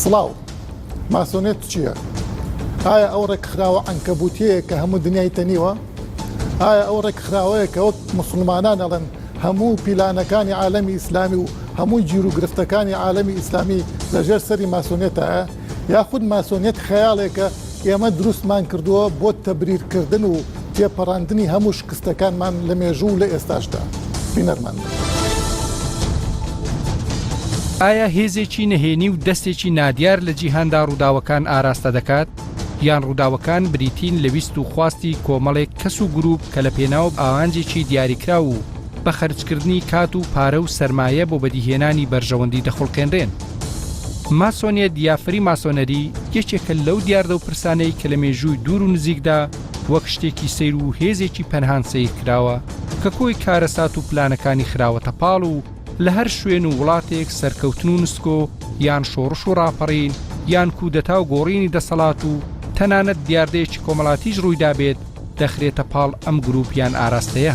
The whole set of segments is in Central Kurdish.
سڵاو ماسۆنێت چییە؟ ئایا ئەو ڕێکخراوە عەنکەبوتیەیە کە هەموو دنیای تەنیوە؟ ئایا ئەو ڕێکخراوەیە کە وەک موسڵمانان ئەڵێن هەموو پیلانەکانی عالەمی ئیسلامی و هەموو گیرو گرفتەکانی عالەمی ئیسلامی لە ژێر سەری ماسۆنیەتایە یاخود ماسۆنیەت خەیاڵێکە ئێمە دروستمان کردووە بۆ تەبریر کردن و تێپەڕاندنی هەموو شکستەکانمان لە مێژوو و لە ئێستاشدا؟ بینەرمان بن. ئایا هێزێکی نەهێنی و دەستێکی نادیار لە جیهاندا ڕووداوەکان ئاراستە دەکات؟ یان ڕووداوەکان بریتین لە ویست و خواستی کۆمەڵێک کەس و گروپ کە لە پێناو ئاانجێکی دیاریکراو و بە خەرجکردنی کات و پارە و سەرمایە بۆ بەدیهێنانی بەرژەوەندی دەخوڵقێنرێن. ماسۆنیەت یا فری ماسۆنەری یەکێکە لەو دیاردە و پرسانەی کە لە مێژووی دوور و نزیکدا وەک شتێکی سەیر و هێزێکی پەنهان سەیرکراوە کە کۆی کارەسات و پلانەکانی خراوەتە پاڵ و لە هەر شوێن و وڵاتێک سەرکەوتن و نسکۆ یان شۆڕش و ڕاپەڕین یان کودەتا و گۆڕینی دەسەڵات و تەنانەت دیاردەیەکی کۆمەڵاتیش ڕوویدابێت دەخرێتە پاڵ ئەم گروپ یان ئاراستەیە.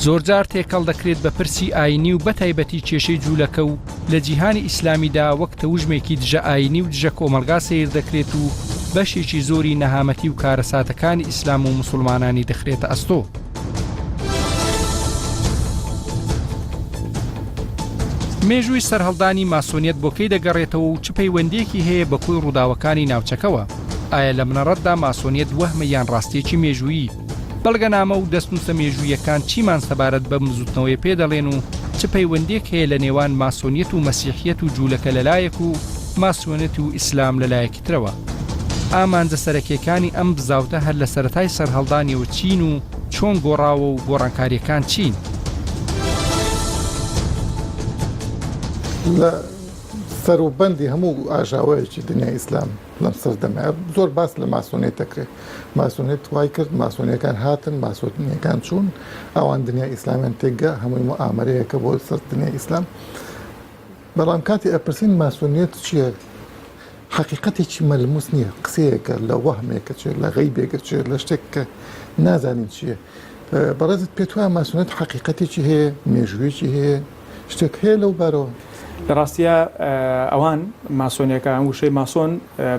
زۆرجار تێکەڵ دەکرێت بە پرسی ئاینی و بەتایبەتی کێشەی جوولەکە و لە جیهانی ئیسلامیدا وەک تەوژمێکی دژە ئاینی و دژە کۆمەلگا سەیر دەکرێت و بەشێکی زۆری نەهامەتی و کارەساتەکانی ئیسلام و موسڵمانانی دەخرێتە ئەستۆ. مێژووی سەرهەڵدانی ماسۆنیەت بۆ کەی دەگەڕێتەوە و چ پەیوەندیەکی هەیە بە کۆی ڕووداوەکانی ناوچەکەوە ئایا لە منەڕەتدا ماسۆنیەت وەهمە یان ڕاستێکی مێژوویی بەڵگەنامە و دەستنووسە مێژوویەکان چیمان سەبارەت بەم بزوتنەوەی پێ دەڵێن و چ پەیوەندێک هەیە لە نێوان ماسۆنیەت و مەسیحیەت و جوولەکە لەلایەک و ماسۆنێت و ئیسلام لەلایەکی ترەوە. ئامانجە سەرەکیەکانی ئەم بزاوتە هەر لە سەرەتای سەرهەڵدانیەوە چین و چۆن گۆڕاوە و گۆڕانکاریەکان چین؟ لە سەر و بەندی هەموو ئاژاوەیەکی دنیای ئیسلام لەم سەردەمەیە زۆر باس لە ماسۆنێت دەکرێت ماسۆنێت وای کرد ماسۆنیەکان هاتن ماسۆنیەکان چوون ئەوان دنیای ئیسلامیان تێکگە هەمووی مو ئامرەیەکە بۆ سەر دنیای ئیسلام بەڵام کاتێ ئەپرسین ماسۆنیەت چیە حەقیقەتێکی مەلموس نیە قسەیەکە لە وەهمێکە چێ لە غەیبێکە چێ لە شتێک کە نازانین چیە بەڕێزت پێت وایە ماسۆنیەت حەقیقەتێکی هەیە مێژوویەکی هەیە شتێک هەیە لەو بارەوە لە ڕاستیا ئەوان ماسۆنیەکە ئەم وشەی ماسۆن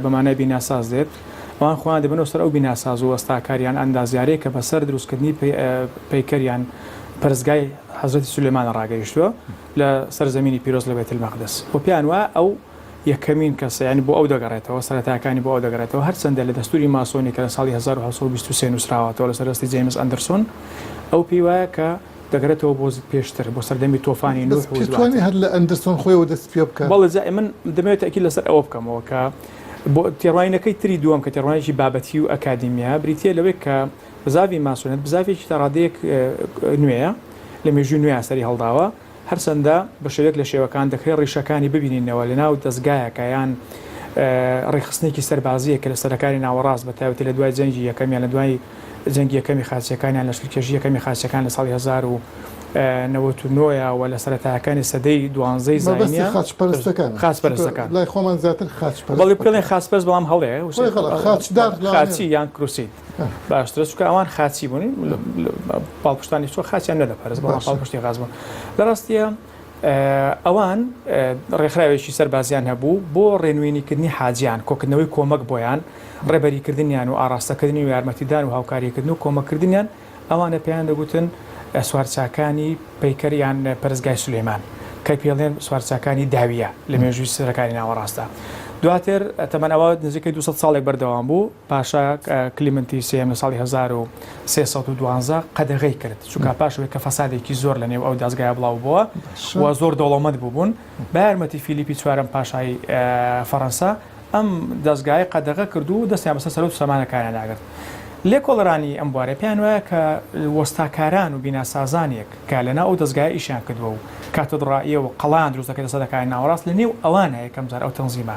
بە مانای بیناساز دێت ئەوان خۆیان دەبنەوە سەر ئەو بیناساز و وەستاکاریان ئەندازیارەیە کە بەسەر دروستکردنی پەیکەریان پەرستگای حەزرەتی سولێمانە ڕاگەیشتووە لە سەر زەمینی پیرۆز لە بەیتلمەقدس و پێیان وایە ئەو یەکەمین کەسە، یانی بۆ ئەو دەگەڕێتەوە، سەرەتاکانی بۆ ئەو دەگەڕێتەوە، هەرچەندە لە دەستووری ماسۆنی کە لە ساڵی هەزار و حەوت سەد و بیست و سێ نووسراوەتەوە لەسەر دەستی جەیمس ئەندرسۆن، ئەو پێی وایە کە دەگەرێتەوە بۆ زد پێشتر، بۆ سەردەمی تۆفانی نوح و دواتر. بەڵێ، جا من دەمەوێت تەئکید لەسەر ئەوە بکەمەوە کە تێڕوانینەکەی تری دووەم کە تێڕوانینێکی بابەتیی و ئەکادیمییە، بریتییە لەوەی کە، بزاڤی ماسۆنێت بزاڤێکی تا ڕادەیەک نوێیە، لە مێژووی نوێیا سەری هەڵداوە، هەرچەندە بە شێوەیەک لە شێوەکان دەکرێت ڕیشەکانی ببینینەوە لەناو دەزگایەکە یان ڕێکخستنێکی سەربازییەک کە لە سەرەکانی ناوەڕاست بە تایبەتی لە دوای جەنگی یەکەم یان لە دوای جەنگی یەکەمی خاچییەکان یان لەشکرکێشی یەکەمی خاچییەکان لە ساڵی هەزار و نەوەد و نۆ یا و لە سەرەتاکانی سەدەی دوانزەی زاینیان مەبەستی خاچپەرستەکانە خاچپەرستەکان لای خۆمان زیاتر خاچپەرست بەڵێ پێڵێن خاچپەرست بەڵام هەڵەیە وشەی خاچدار خاچی یان کروسی. باشترە چکە ئەوان خاچی بوون پاڵپشتانی چۆ خاچیان نەدەپەرز بۆ پاڵپشتی غاز بوون لە ڕاستیە ئەوان ڕێکخراوێکی سەربازیان هەبوو بۆ ڕێنوێنیکردنی حاجیان کۆکردنەوەی کۆمەک بۆیان ڕێبەریکردنیان و ئاراستەکردنی و یارمەتیدان و هاوکاریکردن و کۆمەکردنیان ئەوانە پێیان دەگوتن سوارچاکانی پەیکەریان پەرزگای سلێمان کە پێڵێن سوارچاکانی داویە لە مێژووی سەرەکانی ناوەڕاستە دواتر تەمەەوە نزیکەی 200 ساڵێک بەردەوام بوو پاشا کلیمنتی سێیەم لە ساڵی هەزار و سێ سەد و دوازدە قەدەغەی کرد، چونکا پاش ئەوەی کە فەسادێکی زۆر لەنێو ئەو دەزگایە بڵاوبووە و زۆر دەوڵەمەند بووبوون، بە یارمەتی فیلیپی چوارەم پاشای فەرەنسا ئەم دەزگایە قەدەغە کرد و دەستیان بەسەر سەرۆک سامانەکانیاندا گرت. لێکۆڵەرانی ئەم بوارە پێیان وایە کە وەستاکاران و بیناسازانێک کە لەناو ئەو دەزگایە ئیشیان کردووە و کاتدڕائیە و قەڵایان دروست دەکەێتە سەدەکانی ناوەڕاست لەنێو ئەوانە یەکەمجار ئەو تەنزیمە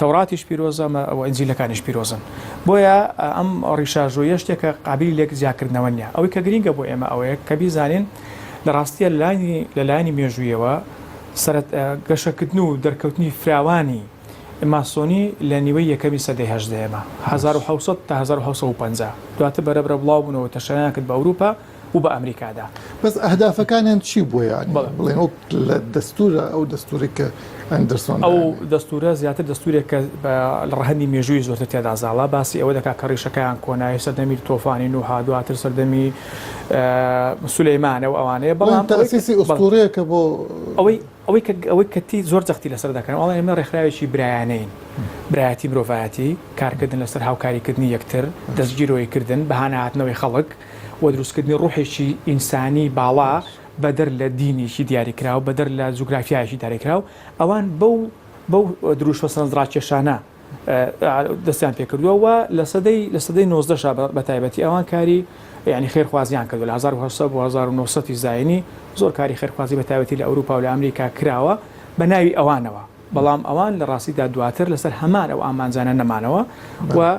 تەوراتیش پیرۆزە و ئینجیلەکانیش پیرۆزن. بۆیە ئەم ڕیشاژۆییە شتێکە قابیلی لێک جیاکردنەوە نییە. ئەوەی کە گرینگە بۆ ئێمە ئەوەیە کە بیزانین لە ڕاستییە لە لایەنی مێژوویەوە سەرەت گەشەکردن و دەرکەوتنی فراوانی ماسۆنی لە نیوەی یەکەمی سەدەی هەژدەیەمە، هەزار و حەوت سەد تا هەزار و حەوت سەد و پەنجا، دواتر بەرەبرە بڵاو بوونەوە و تەشەنەیان کرد بە ئەوروپا، و بە ئەمریکادا. بەس ئەهدافەکانیان چی بووە یانی بەڵێ. بڵێن وەک لە دەستوورە ئەو دەستوورەی کە ئەندرسۆن ئەو دانێ؟ دەستوورە زیاتر دەستوورێک کە بە لە ڕەهەندی مێژوویی زۆرتر تێدا زاڵە، باسی ئەوە دەکا کە ڕیشەکەیان کۆنە، هی سەردەمی تۆفانی نوحە، دواتر سەردەمی سولەیمانە و ئەوانەیە، بڵێن بەڵام ئەوەی تاسیسی کە بەڵێ. ئوستوورەیەکە بۆ ئەوەی ئەوەی کە ئەوەی کە تی زۆر جەختی لە سەر دەکەن، ئەڵێن ئێمە ڕێکخراوێکی برایانەین، برایەتی مرۆڤایەتی، کارکردن لە سەر هاوکاریکردنی یەکتر، دەستگیرۆیکردن، بەهاناهاتنەوەی خەڵک، و دروستکردنی ڕوحێکی ئینسانی باڵا بەدەر لە دینێکی دیاریکراو، بەدەر لە جوگرافیایەکی داریکراو، ئەوان بەو بەو دروشمە سەرنجڕاکێشانە دەستیان پێکردووە و لە سەدەی لە سەدەی نۆزدەشا بەتایبەتی ئەوان کاری یانی خێرخوازیان کردووە لە هەزار و هەشت سەد بۆ هەزار و نۆ سەد ی زاینی زۆر کاری خێرخوازی بەتایبەتی لە ئەوروپا و لە ئەمریکا کراوە بە ناوی ئەوانەوە بەڵام ئەوان لە ڕاستیدا دواتر لەسەر هەمان ئەو ئامانجانە نەمانەوە و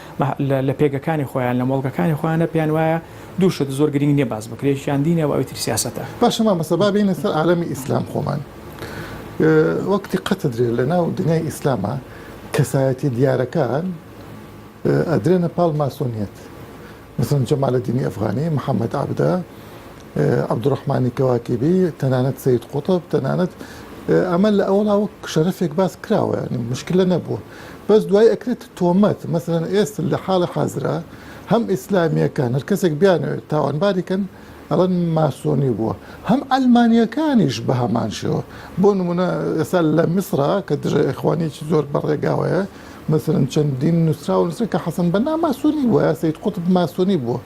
لە پێگەکانی خۆیان، لە مۆڵگەکانی خۆیانە پێیان وایە دوو شت زۆر گرینگ نییە باس بکرێ، یەکیان دینە و ئەوی تر سیاسەتە. باشە مامۆستا با بێینە سەر عالەمی ئیسلام خۆمان وەک دیققەتت درێ لە ناو دنیای ئیسلاما کەسایەتیە دیارەکان ئەدرێنە پاڵ ماسۆنیەت مەسەن جەمالەدینی ئەفغانی، محەمەد عەبدە، عەبدوڕەحمانی کەواکیبی، تەنانەت سەید قوتب، تەنانەت ئەمە لە ئەوەڵا وەک شەرەفێک باس کراوە یانی مشکلە نەبووە. بەس دوای ئەکرێتە تۆمەت مەسەلەن ئێستا لە حاڵی حازرا هەم ئیسلامیەکان هەر کەسێک بیانەوێت تاوانباری کەن ئەڵەن ماسۆنی بووە هەم عەلمانیەکانیش بە هەمان شێوە بۆ نمونە ئێستا لە میسرا کە دژە ئێخوانیەکی زۆر بە ڕێگاوەیە مەسەلەن چەندین نوسراوە نوسرا کە حەسەن بەنا ماسۆنی بووە یا سەید قوتب ماسۆنی بووە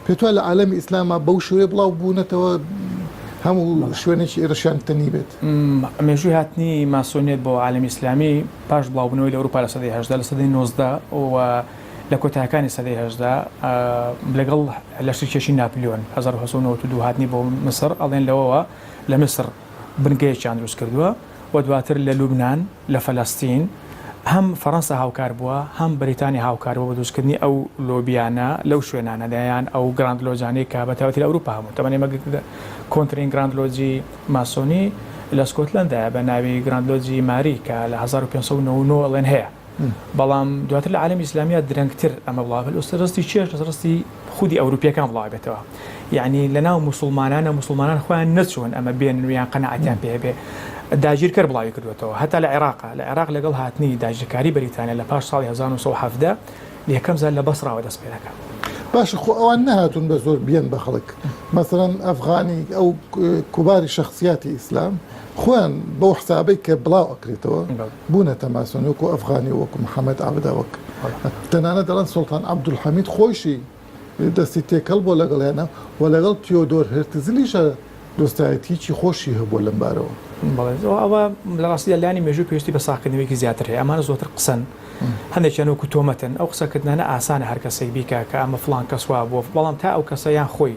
پێتوا لە عالەمی ئیسلاما بەو شێوەیە بڵاو بوونەتەوە هەموو شوێنێکی ئێرەشیان تەنی بێت مێژووی هاتنی ماسۆنیت بۆ عالمی ئیسلامی پاش بڵاوبنەوەی لە ئەوروپا لە سەدەی هەشدا لە سەدەی نۆزدە و لە کۆتاکانی سەدەی هەشدا لەگەڵ لەشتکێشی ناپلیۆن 1992 هاتنی بۆ مسر ئەڵێن لەوەوە لە مسر بنگەیەکیان دروست کردووە و دواتر لە لوبنان، لە فەلەستین، هەم فەرەنسا هاوکار بووە، هەم بەریتانیا هاوکار بووە بە دروستکردنی ئەو لۆبییانە لەو شوێنانەدا، یان ئەو گراند لۆجانەی کە بە تایبەتی لە ئەوروپا هەبوون، تەبەن ئێمە کۆنترین گراند لۆجی ماسۆنی لە سکۆتلەندایە بە ناوی گراند لۆجی ماری کە لە هەزار و پێنج سەد و نەوە و نۆ ئەڵێن هەیە. بەڵام دواتر لە عالەمی ئیسلامیا درەنگتر ئەمە بڵاوە لە ڕستی چێش لە ڕستی خودی ئەوروپیەکان بڵاوبێتەوە یعنی لە ناو مسلمانانە مسلمانان خۆیان نەچوون ئەمە بێن ویان قەنەعاتیان پێ بێ داگیرکەر بڵاوی کردوێتەوە هەتا لە عێراق لە عێراق لەگەڵ هاتنی داگیرکاری بەریتانە لە پاش ساڵی 1970 یەکەم زار لە بەسڕاوە دەست پێ دەکات. باش خۆ ئەوان نەهاتون بە زۆر بیان بە خەڵک مەسەرەن ئەفغانی ئەو کوباری شخصیاتی ئیسلام خۆیان بەو حسابەی کە بڵاو ئەکرێتەوە بوونەتە ماسۆن وەکو ئەفغانی و وەکو محەمەد عەبدە وەک تەنانەت دەڵێن سوڵتان عەبدولحەمید خۆیشی دەستی تێکەڵ بووە لەگەڵیانە و لەگەڵ تیۆدۆر هێرتزلیشە دۆستایەتییەکی خۆشی هەبووە لەم بارەوە. بەڵێ ئەوە ئەوە لە ڕاستیدا لانی مێژوو پێویستی بە ساغکردنەوەیەکی زیاتر هەیە ئەمانە زۆرتر قسەن هەندێکیان وەکو تۆمەتن ئەو قسەکردنانە ئاسانە هەر کەسێک بیکا کە ئەمە فڵان کەس وا بووە بەڵام تا ئەو کەسە یان خۆی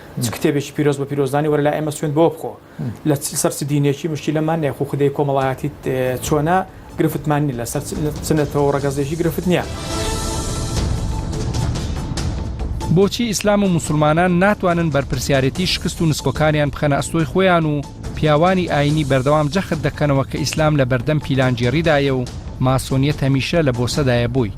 چ کتێبێکی پیرۆز بە پیرۆزدانی وەرە لای ئێمە سوێند بەوە بخۆ لە چ سەر چ دینێکی مشکیلەمان نییە خو خودێی کۆمەڵایەتیت چۆنە گرفتمان نیە لەسەر چ نەتەوە و ڕەگەزێکی گرفت نییە. بۆچی ئیسلام و موسڵمانان ناتوانن بەرپرسیارێتی شکست و نسکۆکانیان بخەنە ئەستۆی خۆیان و پیاوانی ئاینی بەردەوام جەخت دەکەنەوە کە ئیسلام لە بەردەم پیلانگێڕیدایە و ماسۆنیەت هەمیشە لە بۆسەدایە بۆی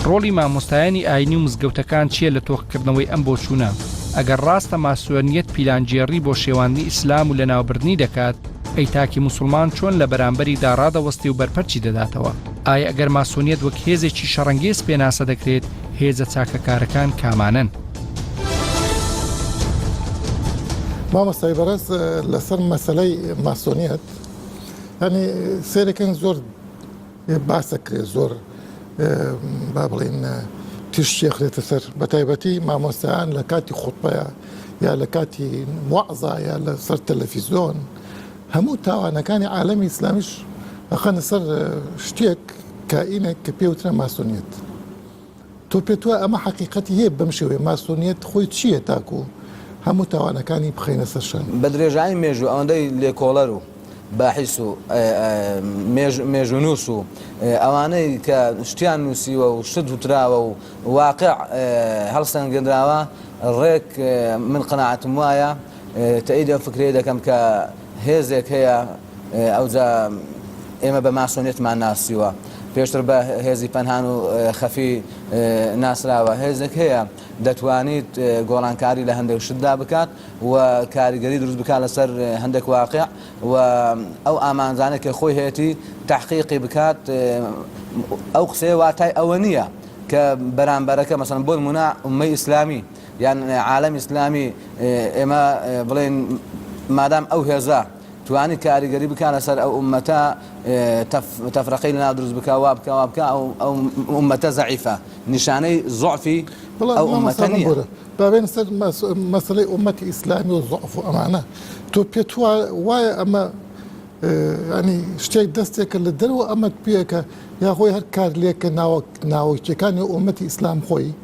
ڕۆڵی مامۆستایانی ئاینی و مزگەوتەکان چییە لە تۆخکردنەوەی ئەم بۆچوونە ئەگەر ڕاستە ماسۆنیەت پیلانگێڕی بۆ شێواندنی ئیسلام و لەناوبردنی دەکات ئەی تاکی موسڵمان چۆن لە بەرامبەری دا ڕادەوەستێ و بەرپەرچی دەداتەوە؟ ئایا ئەگەر ماسۆنیەت وەک هێزێکی شەڕەنگێز پێناسە دەکرێت، هێزە چاکەکارەکان کامانەن؟ مامۆستای بەڕێز لەسەر مەسەلەی ماسۆنیەت هەنی سێرەکەن زۆر باسە کرێ زۆر با بڵین تیشتێ خرێتە سەر بە تایبەتی مامۆستایان لە کاتی خوتبەیە یا لە کاتی وەعزایە لە سەر تەلەفیزۆن هەموو تاوانەکانی عالەمی ئیسلامیش ئەخەنە سەر شتێک کائینێک کە پێ وترا ماسۆنیەت تۆ پێت وایە ئەمە حەقیقەتی هەیە بەم شێوەیە ماسۆنیەت خۆی چییە تاکو هەموو تاوانەکانی بخەینە سەر شان. بە درێژایی مێژوو ئەوەندەی لێکۆڵەر و باحیس و مێژ مێژوونووس و ئەوانەی کە شتیان نووسیوە و شت وتراوە و واقع هەڵسەنگێنراوە ڕێک من قەناعەتم وایە تەئید ئەو فکرەیە دەکەم کە هێزێک هەیە ئەوجا ئێمە بە ماسۆنیەتمان ناسیوە پێشتر بە هێزی پەنهان و خەفی ناسراوە هێزێک هەیە دەتوانیت گۆڕانکاری لە هەندێک شتدا بکات و کاریگەری دروست بکات لەسەر هەندێک واقع و ئەو ئامانجانە کە خۆی هەیەی تحقیقی بکات ئەو قسەیە واتای ئەوە نییە کە بەرامبەرەکە مەسەن بۆن منە ئومەی ئیسلامی یان عالەمی ئیسلامی ئێمە بڵێین مادام ئەو هێزە توانی کاریگەری بکا لەسەر ئەو ئومەتە تەفرەقەی لەناو دروست بکا وا بکا وا بکا ئەو ئومەتە زەعیفە نیشانەی زوعفی بەڵام ئەو ئومەتە مامۆستا من نییە بۆرە با بێن سەر مەس- مەسەلەی ئومەتی ئیسلامی و زوعف و ئەمانە تۆ پێت وا- وایە ئەمە اه، یانی شتێک دەستێکە لە دەرەوە ئەمەت پێکە یاخۆی هەر کارلێکە ناوە ناوەکیەکانی ئومەتی ئیسلام خۆی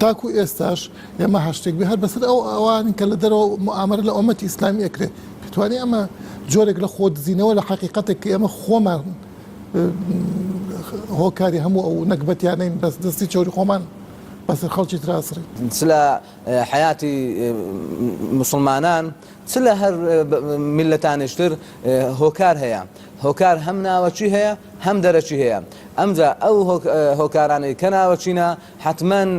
تاکو ئێستاش ئێمە هەرشتێک بێ هەر بەسەر ئەو ئەوانین کە لە دەرەوە موئامەرە لە ئۆمەتی ئیسلامی ئەکرێ پێتوانی ئەمە جۆرێک لە خۆ دزینەوە لە حەقیقەتێک کە ئێمە خۆمان هۆکاری هەموو ئەو نەگبەتیانەین بەس دەستی چۆری خۆمان بەسەر خەڵکی تراسڕی چ لە حەیاتی مسلمانان چ لە هەر میللەتانیشتر هۆکار هەیە هۆکار هەم ناوەکی هەیە هەم دەرەکی هەیە ئەمجا ئەو هۆکارانەی کە ناوەکینە حەتمەن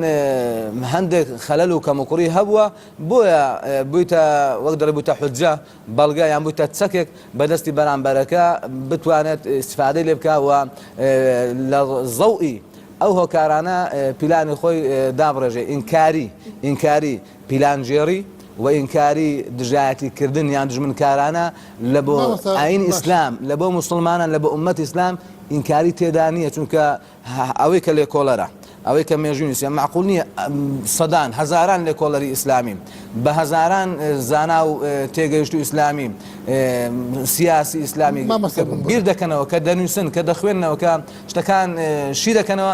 هەندێک خەلەل و کەموکوڕی هەبووە بۆیە بوویتە وەک دەڵێ بوویتە حوجە بەڵگە یان بوویتە چەکێک بەدەستی بەرامبەرەکە بتوانێت استفادەی لێ بکا و لە ضەوئی ئەو هۆکارانە پیلانی خۆی دابڕێژێ ئینکاری ئینکاری پیلانگێڕی و ئینکاری دژایەتی کردن یان دوژمنکارانە لە بۆ مامۆستا ئاینی باش. ئیسلام لە بۆ موسڵمانان لە بۆ ئوممەتی ئیسلام ئینکاری تێدا نیە چونکە هه ئەوەی کە لێکۆڵەرە ئەوەی کە مێژووی نووسیە مەعقول نیە ئەم سەدان هەزاران لێکۆڵەری ئیسلامی بە هەزاران اه، زانا و اه، تێگەیشتوو ئیسلامی اه، سیاسی ئیسلامی مامۆستا بن بۆ بیر دەکەنەوە کە دەنووسن کە دەخوێننەوە کە شتەکان اه، شی دەکەنەوە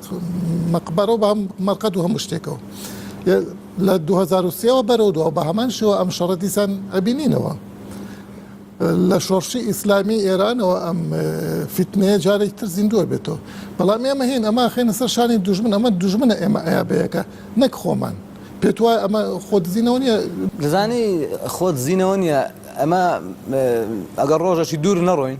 مەقبەرە و بە هەم مەرقەد و هەموو شتێکەوە لە دوو هەزار و سێ وە بەرەو دوا بە هەمان شێوە ئەم شەڕە دیسان ئەبینینەوە لە شۆڕشی ئیسلامی ئێرانەوە ئەم فیتنەیە جارێک تر زیندووە بێتەوە بەڵام ئێمە هەین ئەمە خێنە سەر شانی دوژمن ئەمە دوژمنە ئێمە ئەیابەیەکە نەک خۆمان پێت وایە ئەمە خۆ دزینەوە نیە دەزانی خۆ دزینەوە نیە ئەمە ئەگەر ڕۆژەکی دوور نەڕۆین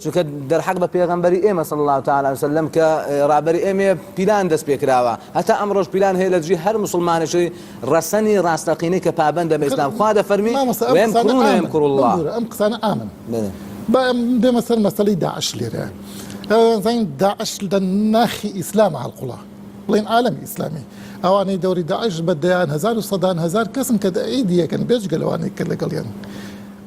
چونکە دەرحەق بە پێغەمبەری ئێمە صلی اللە تعالی علیە وسلم کە ڕابەری ئێمەیە پیلان دەست پێ کراوە هەتا ئەمڕۆش پیلان هەیە لە دژی هەر موسڵمانێکی ڕەسەنی ڕاستەقینەی کە پابەندە بە ئیسلام خوا دەفەرمی ویمکرون ویمکر اللە ببورە ئەم قسانە عامن با بێمە سەر مەسەلەی داعش لێرە زین داعش لە ناخی ئیسلام هەڵقوڵا بڵین عالمی ئیسلامی ئەوانەی دەوری داعش بە دەیان هەزار و سەدان هەزار کەسن کە دەعیدیەکەن بێجگە لەوانەی کە لەگەڵیان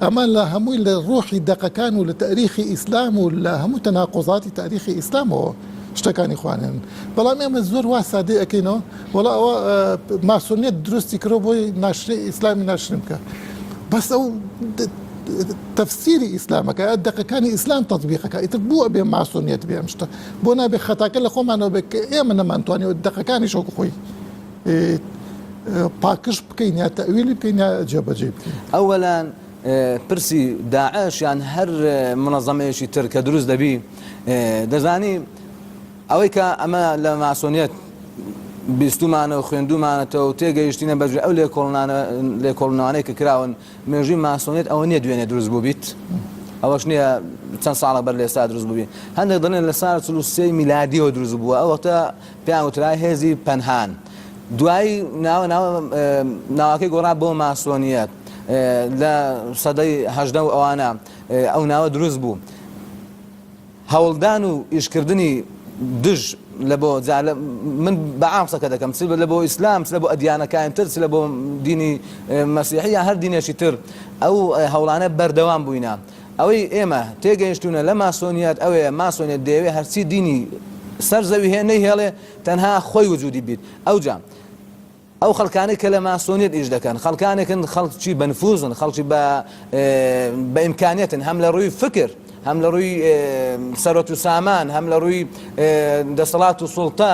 ئەمە لە هەمووی لە ڕۆحی دەقەکان و لە تاریخی ئیسلام و لە هەموو تەناقوزاتی تاریخی ئیسلامەوە شتەکانی خوانێن بەڵام ئێمە زۆر وا سادەی ئەکەینەوە وەڵا ئەوە ماسۆنیەت دروستی کرۆ بۆی ناشرین ئیسلامی ناشرین بکە بەس ئەو تەفسیری ئیسلامەکە دەقەکانی ئیسلام تەطبیقەکە ئیتر بووە بێ ماسۆنیەت بێ ئەم شتە بۆ نابێ خەتاکە لە خۆمانەوە بێت کە ئێمە نەمانتوانێت دەقەکانی شۆک خۆی پاکژ بکەین یا تەویلی بکەین یا جێبەجێ بکەین ئەوەلان پرسی داعش یان هەر منەزەمەیەکی تر کە دروست دەبی دەزانی ئەوەی کە ئەمە لە ماسۆنیەت بیستمانە و خوێندومانەتەوە و تێگەیشتینە بەجێ ئەو لێکۆڵنانە لێکۆڵنانەی کە کراون مێژوی ماسۆنیت ئەوە نیە دوێنێ دروست بوو بیت ئەوەش نییە چەند ساڵە بەر لێستا دروست بووی هەندێک دەڵێن لە سار چلوسی میلادیەوە دروست بووە ئەوەتە پێیان وترا هێزی پەنهان. دوایی ناوە ناوە ناوەکەی گۆڕا بۆ ماسۆنیەت. لە سەدەی هەژدە و ئەوانە ئەو ناوە دروست بوو. هەوڵدان و ئیشکردنی دژ لە بۆ جا لە من بە عام قسەکە دەکەم چ لە بۆ ئیسلام چ لە بۆ ئەدیانەکانی تر چ لە بۆ دینی مەسیحی یان هەر دینێکی تر ئەو هەوڵانە بەردەوام بووینە. ئەوەی ئێمە تێگەیشتوونە لە ماسۆنیەت ئەوەیە ماسۆنیەت دەیەوێت هەرچی دینی سەر زەوی هەیە نەیهێڵێ تەنها خۆی وجودی بیت ئەوجا ئەو خەڵکانەی کە لە ماسۆنیت ئیش دەکەن خەڵکانێکن خەڵکی بەنفوزن خەڵکی بە بە ئیمکانیتن هەم لە ڕووی فکر هەم لە ڕووی سەرۆت و سامان هەم لە ڕووی دەسەڵات و سوڵتە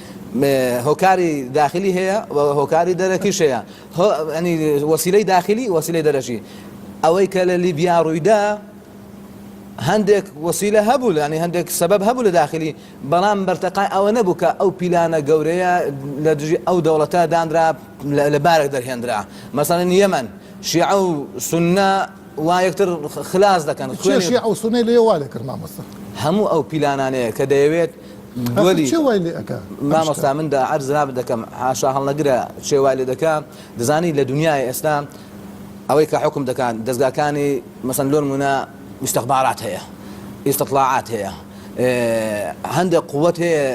هۆکاری داخلی هەیە و هۆکاری دەرەکیش هەیە هۆ ینی وەسیلەی داخلی وەسیلەی دەرەکی ئەوەی کە لە لیبیا ڕوویدا هەندێک وەسیلە هەبوو لانی هەندێک سەبەب هەبوو لە داخلی بەڵام بەرتەقای ئەوە نەبوو کە ئەو پیلانە گەورەیە لە دژی ئەو دەوڵەتە دانرا لە بارێک دەرهێنرا مەسەڵەن یەمەن شیعە و سنە وا یەکتر خلاص دەکەن چێ خوێنی شیعە و سونەی لێ وا لێ کرد مامۆستا هەموو ئەو پیلانانەیە کە دەیەوێت گۆلی چێ وای لێ ئەکا مامۆستا من دا عەرز جنابت دەکەم حاشا هەڵنەگرە چێ وای لێ دەکا دەزانی لە دنیای ئێستا ئەوەی کە حکم دەکات دەستگاکانی مەسەن لۆن مونا استخبارات هەیە استطلاعات هەیە هەندێک قوت هەیە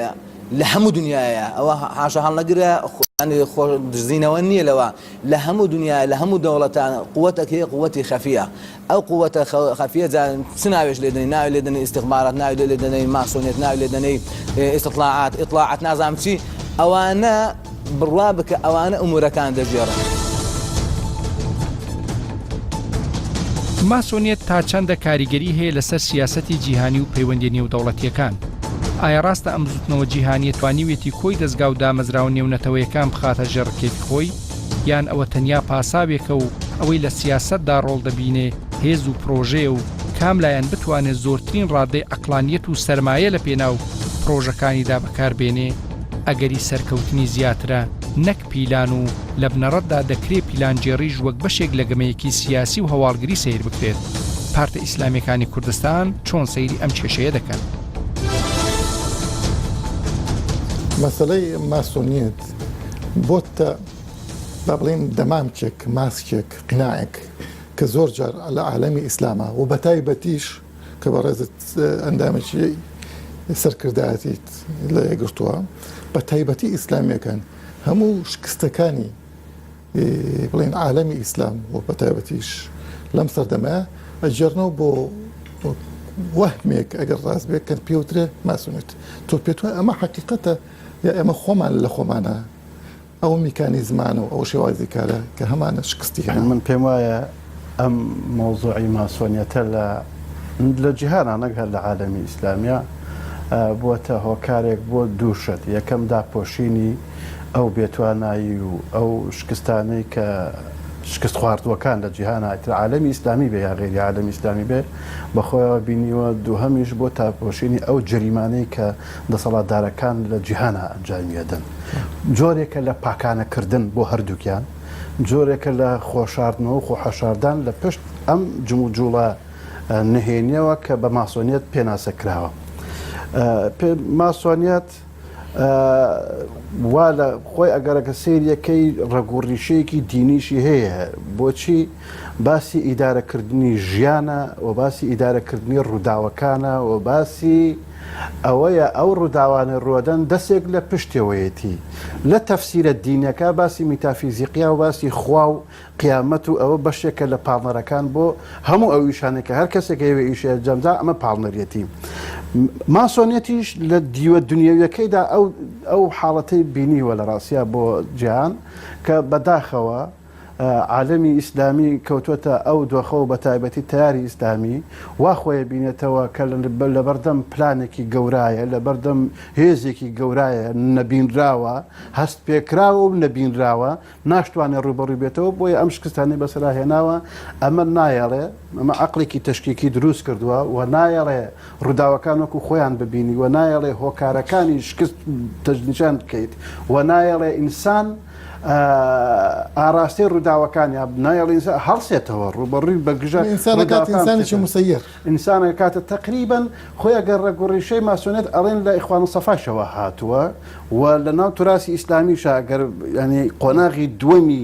لە هەموو دنیاە ئەوە حاشا هەڵنەگرە خۆ دزینەوە نییە لەوە لە هەموو دنیا لە هەموو دەوڵەتان قوتەکەی قوتی خەفیە ئەو قووەتە خەفیە جا چ ناوێش لێ دەنێی ناوی لێ دەنێی ئیستیخبارات ناوی لێ لێ دەنێی ماسۆنیەت ناوی لێ دەنێی ئیستیطلاعات ئیطلاعات نازانم چی ئەوانە بڕوا بکە ئەوانە ئەمورەکان دەگێڕن. ماسۆنیەت تا چەندە کاریگەری هەیە لەسەر سیاسەتی جیهانی و پەیوەندی نێودەوڵەتیەکان؟ ئایا ڕاستە ئەم بزوتنەوە جیهانیە توانیویەتی کۆی دەستگا و دامەزراوە نێونەتەوەیەکان بخاتە ژێر ڕکێفی خۆی؟ یان ئەوە تەنیا پاساوێکە و ئەوەی لە سیاسەتدا ڕۆڵ دەبینێ هێز و پرۆژەیە و کام لایەن بتوانێ زۆرترین ڕادەی عەقڵانییەت و سەرمایە لە پێناو پرۆژەکانیدا بەکار بێنێ ئەگەری سەرکەوتنی زیاترە نەک پیلان و لە بنەڕەتدا دەکرێ پیلانگێڕیش وەک بەشێک لە گەمەیەکی سیاسی و هەواڵگری سەیر بکرێت پارتە ئیسلامیەکانی کوردستان چۆن سەیری ئەم کێشەیە دەکەن؟ مەسەلەی ماسۆنیەت بۆتە با بڵێین دەمامکێک ماسکێک قناعێک کە زۆر جار لە عالەمی ئیسلامە و بە تایبەتیش کە بە ڕێزت ئەندامێکی سەرکردایەتیت لە یەگرتووە بە تایبەتی ئیسلامیەکان هەموو شکستەکانی بڵێن عالەمی ئیسلام و بە تایبەتیش لەم سەردەمە ئەجێرنەوە بۆ وەهمێک ئەگەر ڕاست بێت کە پێوترێ ماسونێت تۆ پێت وای ئەمە حقیقەتە یا ئێمە خۆمان لە خۆمانا ئەو میکانیزمان و ئەو شێوازی کارە کە هەمانە شکستی هێنا. یانی من پێم وایە ئەم مەوزوعی ماسۆنیەتە لە لە جیهانا نەک هەر لە عالەمی ئیسلامیا بووەتە هۆکارێک بۆ دوو شت، یەکەم داپۆشینی ئەو بێتوانایی و ئەو شکستانەی کە شکست خواردووەکان لە جیهانا ئیتر عالەمی ئیسلامی بێ یا غەیری عالەمی ئیسلامی بێ بە خۆیەوە بینیوە، دووهەمیش بۆ تاپۆشینی ئەو جەریمانەی کە دەسەڵاتدارەکان لە جیهانا ئەنجامی ئەدەن، جۆرێکە لە پاکانە کردن بۆ هەردووکیان، جۆرێکە لە خۆشاردنەوە و خۆحەشاردان لە پشت ئەم جموجوڵە نهێنیەوە کە بە ماسۆنیەت پێناسە کراوە. ماسۆنیەت وا لە خۆی ئەگەڕێ کە سەیرەکەی ڕەگ و ڕیشەیەکی دینیشی هەیە، بۆچی باسی ئیدارە کردنی ژیانە و باسی ئیدارە کردنی ڕووداوەکانە و باسی ئەوەیە ئەو ڕووداوانەی ڕوەدەن دەستێک لە پشتەوەیەتی لە تەفسیرە دینیەکە باسی میتافیزیقیا و باسی خوا و قیامەت و ئەوە بەشێکە لە پاڵنەرەکان بۆ هەموو ئەو ئیشانەی کە هەر کەسێک هەیەوێ ئیشی ئەنجامدا ئەمە پاڵنەریەتی ماسۆنیەتیش لە دیوە دنیەویەکەیدا ئەو ئەو حاڵەتەی بینیوە لە ڕاستیا بۆ جیهان کە بەداخەوە عالەمی ئیسلامی کەوتووەتە ئەو دۆخە و بەتایبەتی تەیاری ئیسلامی وا خۆی بینێتەوە کە لەبەردەم پلانێکی گەورایە، لەبەردەم هێزێکی گەورایە نەبینراوە، هەستپێکراوە و نەبینراوە، ناشتوانێ ڕووبەڕووی بێتەوە، بۆیە ئەم شکستانەی بەسەرا هێناوە، ئەمە نایەڵێ، ئەمە عەقڵێکی تەشکیکی دروست کردووە و نایەڵێ ڕووداوەکان وەکو خۆیان ببینی و نایەڵێ هۆکارەکانی شکست تەجنیشان بکەیت و نایەڵێ ئینسان ئاراستەی ڕووداوەکانیان نایەڵین هەڵسێتەوە ڕوبەڕووی بەگژە ئینسانە کاتە تەقریبن خۆیان گەر ڕەگوڕیشەی ماسۆنێت ئەڵێن لە ئیخوان و سەفاشەوە هاتووە و لە ناو توراسی ئیسلامیشە گەر ینی قۆناغی دووەمی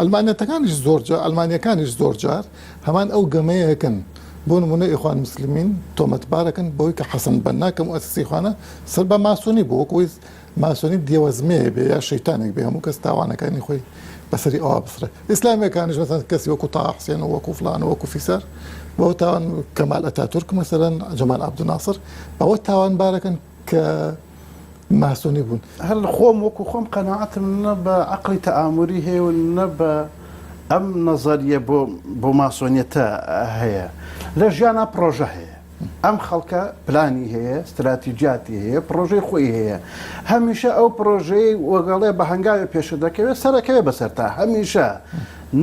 عەلمانیەتەکانیش زۆرجار، عەلمانیەکانیش زۆرجار هەمان ئەو گەمەیەکن، بۆ نموونە ئیخوان موسلمین تۆمەتبارەکەن بەوەی کە حەسەن بەننا کە موئەسیسی ئیخوانە سەر بە ماسۆنی بوو، وەکو وەیس ماسۆنی دێوەزمەیە بێ یا شەیتانێک بێ هەموو کەس تاوانەکانی خۆی بەسەری ئەوا بسڕێ، ئیسلامیەکانیش مەسەلەن کەسی وەکو تاها حوسێن و وەکو فڵان و وەکو فیسار بەوە تاوان کەمال ئەتاتورک مەسەلەن جەمال عەبدولناسر بەوە تاوانبارەکەن کە. ماسۆنی بوون. هەر خۆم وەکو خۆم قەناعەتم نە بە عەقڵی تەئاموری هەیە و نە بە ئەم نەزەریە بۆ بۆ ماسۆنیەتە هەیە. لە ژیانا پڕۆژە هەیە. ئەم خەڵکە پلانی هەیە، ستراتیجیاتی هەیە، پڕۆژەی خۆی هەیە. هەمیشە ئەو پڕۆژەی وەگەڵێ بە هەنگاوێ پێشە دەکەوێ سەرەکەوێ بەسەرتا. هەمیشە.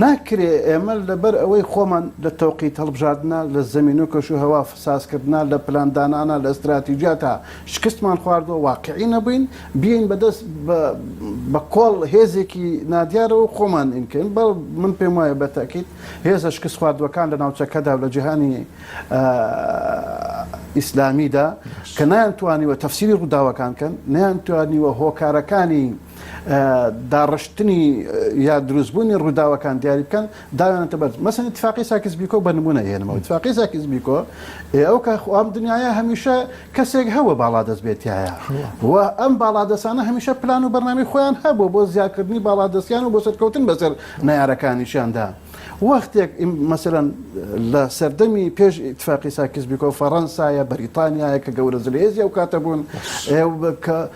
ناکرێ ئێمە لەبەر ئەوەی خۆمان لە تەوقیت هەڵبژاردنا، لە زەمین و کەشوهەوا سازکردنا، لە پلاندانانا، لە ستراتیجیاتا شکستمان خواردوە واقعی نەبوین بیەین بەدەست بە کۆڵ هێزێکی نادیارەوە خۆمان ئینکەین بەڵ من پێم وایە بە تاکیت هێزە شکست خواردوەکان لە ناوچەکەدا و لە جیهانی ئیسلامیدا کە نایان توانیوە تەفسیری ڕووداوەکان کەن نیان توانیوە هۆکارەکانی داڕشتنی یا دروستبوونی ڕووداوەکان دیاری بکەن دانانێتە بەر مەسەن اتفاقی ساکس بیکۆ بە نمونە هێنمەوە اتفاقی ساکس بیکۆ ئێوە کە خوام دنیاە هەمیشە کەسێک هەوە باڵا دەست بێتایە و ئەم باڵا دەسانە هەمیشە پلان و بەرنامی خۆیان هەبوو بۆ زیاکردنی باڵا دەستیان و بۆ سەرکەوتن بەسەر نارەکانیشیاندا وەختێک مەسەرەن لە سەردەمی پێش اتفاقی ساکس بیکۆ فەڕەنسایە بەریتانیایە کە گەورە زلێزی ئەو کاتە بوون کە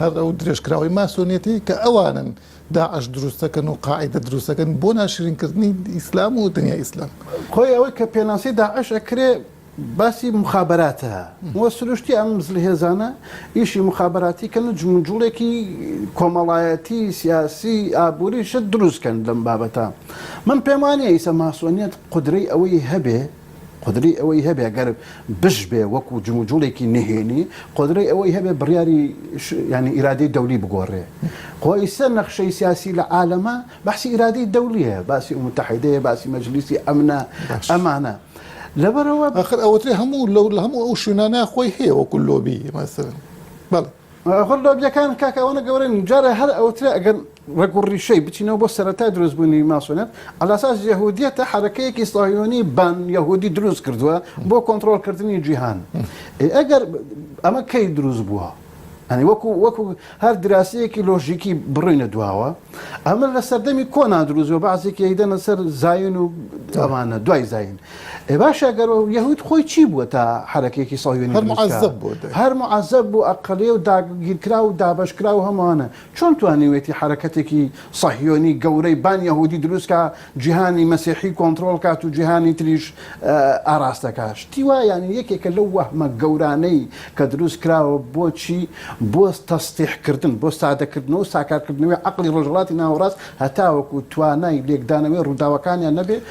هەر ئەو درێژکراوەی ماسۆنیەتی کە ئەوانن داعش دروست دەکەن و قاعیدە دروست دەکەن بۆ ناشرین کردنی ئیسلام و دنیای ئیسلام. خۆی ئەوەی کە پێناسی داعش ئەکرێ باسی مخابراتە وە سروشتی ئەم زلهێزانە ئیشی مخابراتی کەن و جموجوڵێکی کۆمەڵایەتی سیاسی ئابوری شت دروست کەن لەم بابەتە من پێم وانیە ئیسە ماسۆنیەت قودرەی ئەوەی هەبێ قۆدرەی ئەوەی هەبێ گەر بش بێ وەکو جموجوڵێکی نهێنی قۆدرەی ئەوەی هەبێ بڕیاری ینی ئیرادەی دەولی بگۆڕێ خۆیسە نەخشەی سیاسی لە عالەمە بەسی ئیرادەی دەولیە باسی و متحیدەیە باسی مەجلیسی ئەمنە ئەمانە. لەبەرەوە ئەخر ئەوترێ هەموو لەو لە هەموو ئەو شوێنانە خۆی هەیە وەکو لۆبی مەسەرن بەڵێ. خۆر لۆبیەکان کاکە ئەوەنە گەورەن جارە هەر ئەوترێ ئەگەر ڕەگ و ڕیشەی بچینەوە بۆ سەرەتای دروستبوونی ماسۆنێت ئەلاساس یەهودیەتە حرەکەیەکی ساهیۆنی بان یەهودی دروست کردووە بۆ کۆنتترۆلکردنی جیهان ئەگەر ئەمە کەی دروست بووە ئەنی وەکو وەکو هەر دراسەیەکی لۆژیکی بڕینە دواوە ئەمە لە سەردەمی کۆنا دروست بە بەعزێکی یدەنە سەر زین و ئەمانە دوای زین ئێ باشە گەر یەهود خۆی چی بووە تا حەرەکەیەکی سەهیۆنی هەر دروست کا؟ موعەزەب بووە دەی هەر موعەزەب بوو ئەقڵێ و داگیرکراو و دابەشکراو و هەمووانە چۆن توانیوێتی حەرەکەتێکی سەهیۆنی گەورەی بان یەهودی دروست کا جیهانی مەسیحی کۆنتڕۆڵ کات و جیهانی تریش ئاراستە کا؟ شتی وا یانی یەکێکە لەو وەهمە گەورانەی کە دروست کراوە بۆچی بۆ تەسطیح کردن بۆ سادە کردنەوە و ساکار کردنەوەی عەقڵی ڕۆژهەڵاتی ناوەڕاست هەتاوەکوو توانای لێکدانەوەی ڕووداوەکانیان نەبێ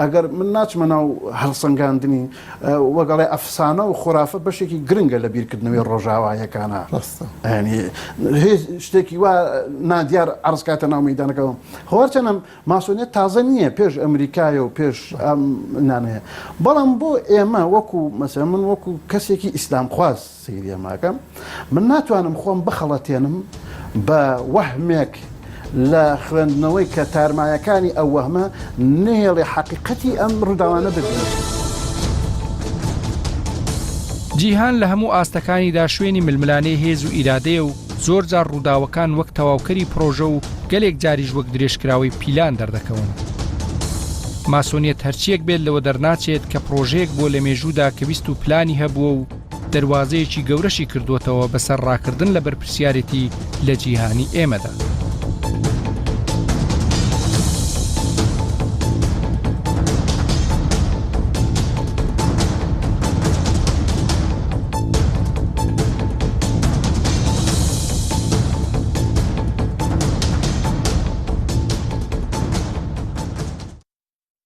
ئەگەر من ناچمە ناو هەڵسەنگاندنی وەک ئەڵێ ئەفسانە و خۆرافە بەشێکی گرنگە لە بیرکردنەوەی ڕۆژاوایەکانە ڕاستە ینی هیچ شتێکی وا نادیار عرضکاتە ناو مەدانەکەەوە هەوارچەنم ماسۆنیت تازە نییە پێش ئەمریکایە و پێش ئەم نانەیە بەڵام بۆ ئێمە وەکو مەسە من وەکو کەسێکی ئیسلام خواست سیریە ماکەم من ناتوانم خۆم بخەڵەتێنم بە وەهمێک لە خوێندنەوەی کە تارمایەکانی ئەو وەهمە نێڵێ حەقیقەتی ئەم ڕووداوانە ببینێت. جیهان لە هەموو ئاستەکانیدا شوێنی ململانێ هێز و ئیرادەیە و زۆر جار ڕووداوەکان وەک تەواوکەری پرۆژە و گەلێک جاریش وەک درێژکراوەی پیلان دەردەکەون. ماسۆنیەت هەرچیەک بێت لەوە دەرناچێت کە پرۆژەیەک بووە لە مێژوودا کە ویست و پلانی هەبووە و دەروازەیەکی گەورەشی کردووەتەوە بەسەر ڕاکردن لە بەرپرسیارێتی لە جیهانی ئێمەدا.